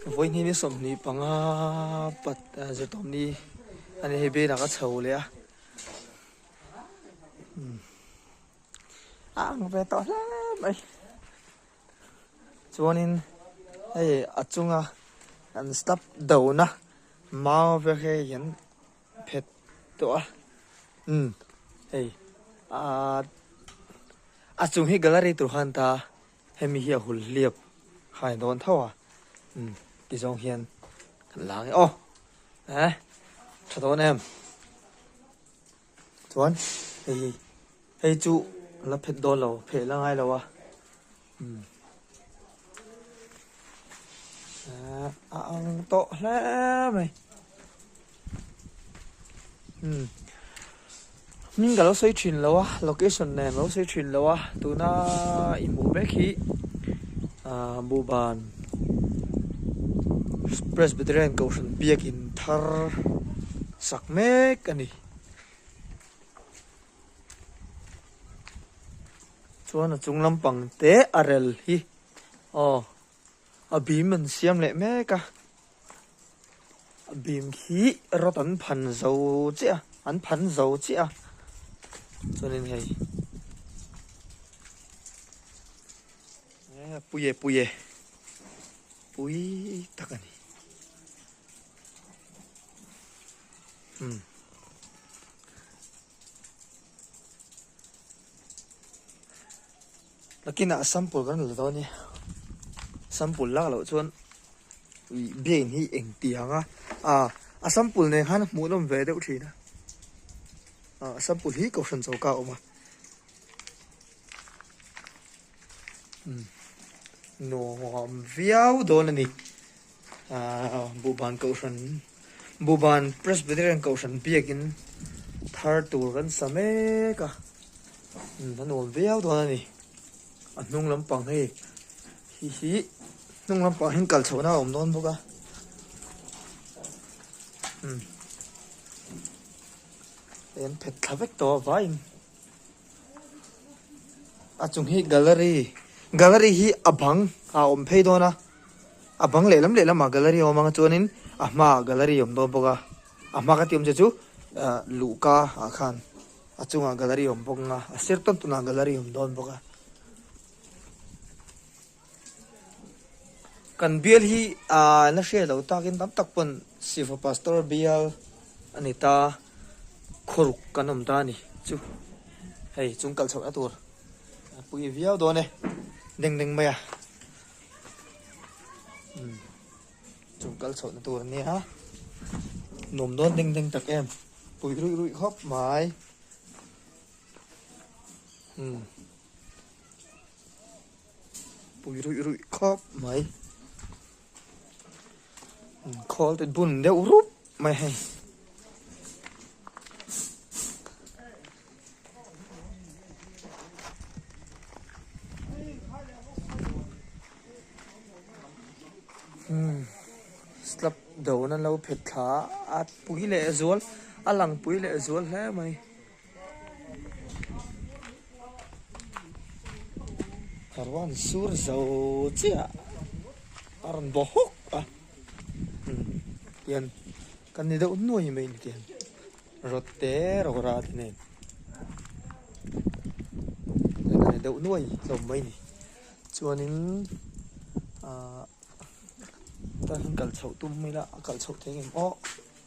Vawiini ni sawmhnih panga pat zirtawmni a nih hi belah ka chho leh a. Hmm. A ang ve tawh hle mai. Chuanin hei a chunga kan stop dona mau vel hi hian phet tawh a. Hmm. Hei. A a chung hi gallery tur han ta. Hemi hi a hul hliap khai a dawn tho a, umm ti zawng hian kan la ang e. Aw eh tha dawn em. Chuan hei hi, hei chu a la phet dawn lo, pheh la ngai lo a, umm eh a ang tawh hle mai. Hmm. Min ka lo sawi thin lo a, location nen lo sawi thin lo a. Tuna i hmuh mek hi uh, Buban Presbyterian Kohhran Biak in thar sak mek a ni. Chuan a chung lampang te a rel hi. Oh, A bim an siam leh mek a, a bim khi rawt an phan zo chiah a, an phan zo chiah a, chuanin hei a pui e pui e, pui tak a ni. Hmm. Takinah sample kan la dawn e. Sample lak loh chuan ih brain hi engti ang a. Ah, a sample nen khan hmuhnawm ve deuh thin a. Ah, a sample hi kohhran choka a awm a. Umm, nuam viau dawn a ni. Buhban Kohhran Buhban Presbyterian Kohhran biakin thar tur kan sa mek a, a nuam viau dawn a ni. A hnung lampang hi hi hi hnung lampang hian kal chhohna a awm dawn bawk a. Em phet thla vek tawh a vaiin. A chung hi gallery gallery hi a bang ah awm phei dawn a a bang lehlam lehlam ah gallery a awm ang a chuanin a hma ah gallery a awm dawn bawk a a hma ka ti awm che chu ah luhka ah khan a chung ah gallery a awm bawk ang a a sir tawn tawn ah gallery a awm dawn bawk a. Kan bial hi aaa la hriat lo takin tam tak pawn Sifa Pastor bial a ni ta, khawruk kan awm ta a ni chu. Hei chung kal chhohna tur a pui viau dawn e, deng deng maia umm chung kal chhohna tur a nia, nuam dawn deng deng tak em, pui ruih ruih khawp mai umm. Pui ruih ruih khawp mai. Khawl te bun deuh rup mai hei. Hmm. Slap do na lo phet tha at pui leh zual alang pui leh zual hle mai. Ka ruan sur zo chiah a rawn bo hawk a hian kan ni deuh nuai mai ni tih rotte rawra te nen kan ni deuh nuai hlawm mai ni chuanin ahh ta hian kal chhoh tum mai la a kal chhoh thei ang aw.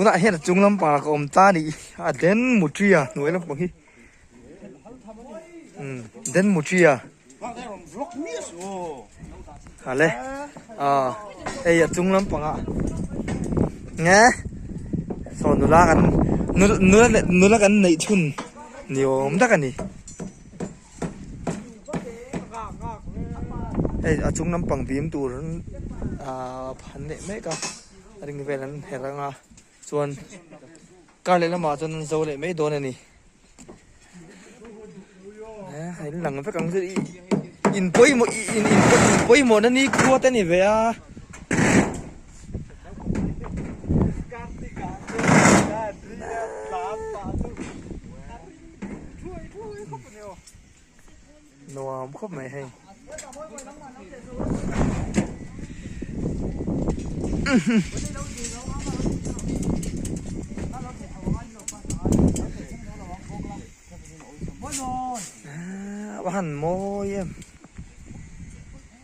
tunah hian a chung lampang ah ka awm ta ni a den mutri a hnuai lampang hi um den mutri a ale a hei a chung lampang ah nge saw nula kan nula nula kan neih chhun ni awm tak a ni hei a chung lampang bim tur aaa phan leh mek a a ring vel an herh rang a chuan kar leh lamah chuan an zo leh mai dawn a ni an lang vek ang chu i in pawimawh ih in pawimawhna nikhua te a ni ve a. nuam khawp mai hei a han mawi em.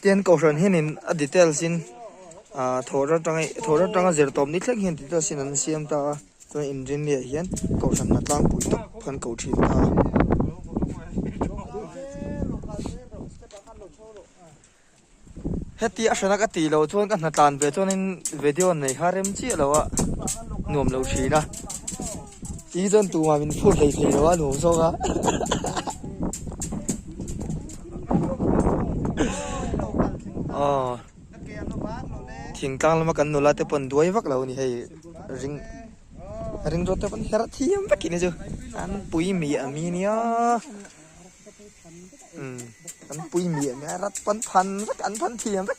Tian Kohhran hianin a details in thawhra atanga thawhra atanga zirtawp ni thleng hian details in an siam ta a, chuan inrin leh hian Kohhranna tlangpui tak khan ko thin ta heti a hrenak a tihloh chuan ka hna tlan ve chuanin video an nei kha rem chiah lo a nuam lo thin a. Tih hi chuan tumah min phut hlei thei lo a nuam zawng a. Aww thing tlang lama kan nula te pawn duai vak lo a ni hei ring ring rawt te pawn herh thiam vek in a chu an pui miah a mi nia umm an pui miah a mi a rat pawn phan vek an phan thiam vek.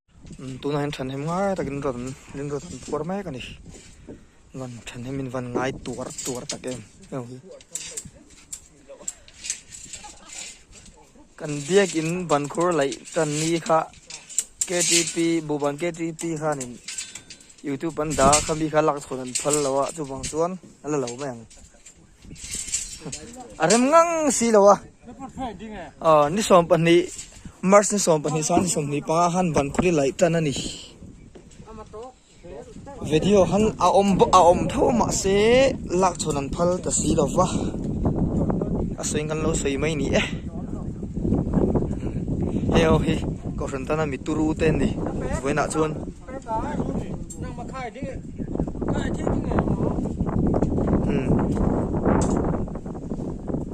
Tuna hian thahnem ngai takin rin rawn rinrawn an phuar mek a ni. Van thahnem in van ngai tuar tuar tak em eng hi. Kan biak in van khur laih tan ni kha KTP buban KTP khan in YouTube an dah kha mi kha lak chhun an phal lo a chuvang chuan ala lo mai ang. a rem ngang si lo a aw ni sawm pahnih march ni sawm pahnih sang ni sawm hnih panga han ban khawri laih tan a ni video han a awm a awm tho mah se lak chhawn an phal ta si lo va a sawi ngan lo sawi mai ni e heng ho hi kohhran tana mi turu te an ni vawiinah chuan--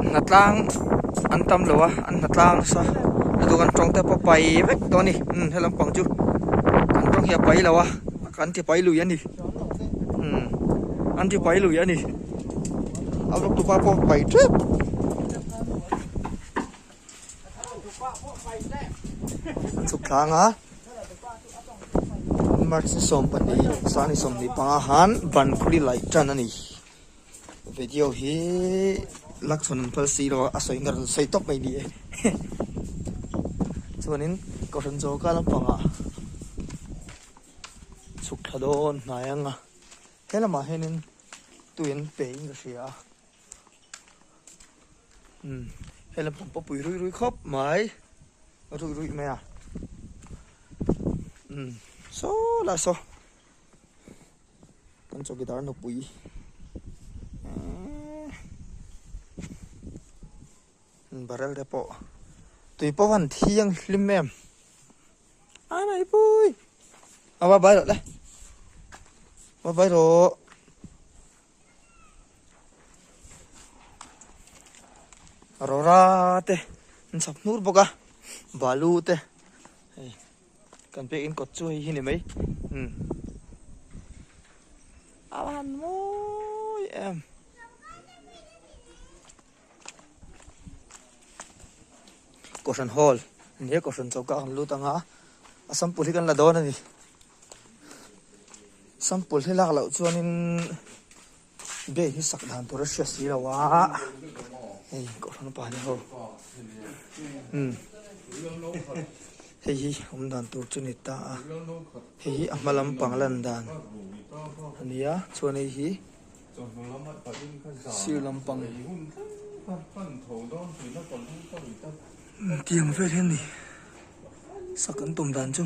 Hnatlang an tam lo a an hnatlang nasa a dun an tawngte pawh pai vek tawh a ni umm he lampang chu an tawng hi a pai lo a an tipai lui a ni umm an tipai lui a ni a lutuk a pawh a pai tep. An chhuk thlang a, March ni sawm pahnih Sang ni sawm hnih panga han ban khuri laih tan a ni. Video hi lakchhuan an phal si lo a, a sawi na rawn sawi tawp mai ni e. Chuanin ka hran zawka lampangah chhuk thla dawn hnai anga, he lamah hianin tuian peiin ka hria a. um hela pawm pawh pui rui rui khawp mai rui rui mai a um so la so kan chaw guitar no pui barrel te pawh tui pawh han thiang hlim em a mai pui awa bai lo le awa bai lo rora te an chhak hnur bawk a balu te hei kan pek in kawt chu hei hi ni mai hmm. a han mawi em kohhran hall ni a kohhran choka kan lut anga a sample hi kan la dawn a ni Sample hi lak loh chuan in Gate hi sak dan tur a hria si lo a hei kawhhran a pahnih ho umm hei hi awm dan tur chu ni ta a hei hi a hma lam pang lan dan a ni a chuan hei hi sir lam pang umm tiang vel hi a ni sak an tum dan chu.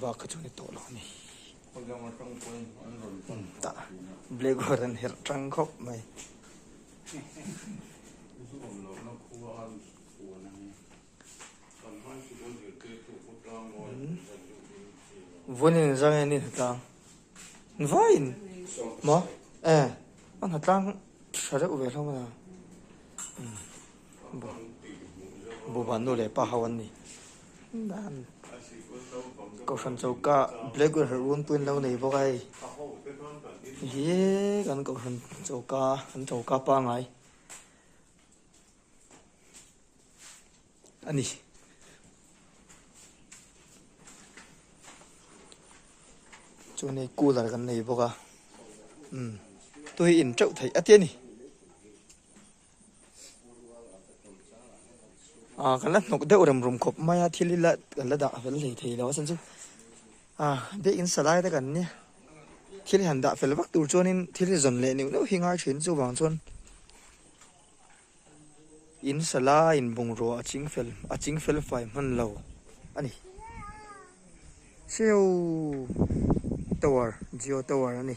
Bak chu ni tawh lo a ni. Black board an herh tang khawp mai. Vun in zang in hna tlang. Vai in maw? Eh, a hna tlang tha deuh ve hlawm a ni. Bubanu leh pa ho an ni. Dan Kohhran choka black ber hralh run pawhin lo nei bawk a hei. Hi kan Kohhran choka kan choka pangai a ni. Chuan hei cooler kan nei bawk a. Umm. Tui in teuh theih a tia ni. Ahh kan la hnawk deuh rem rum khawp mai a, thil hi la kan la dah fel thei thei lo a chan chu ahh biakin salai te kan nia thil han dah fel vak tur chuanin thil hi zawn leh neuh neuh hi ngai thin chuvang chuan in salaiin bungrua a ching fel a ching fel fai hman lo a ni hreu tower Jio tower a ni.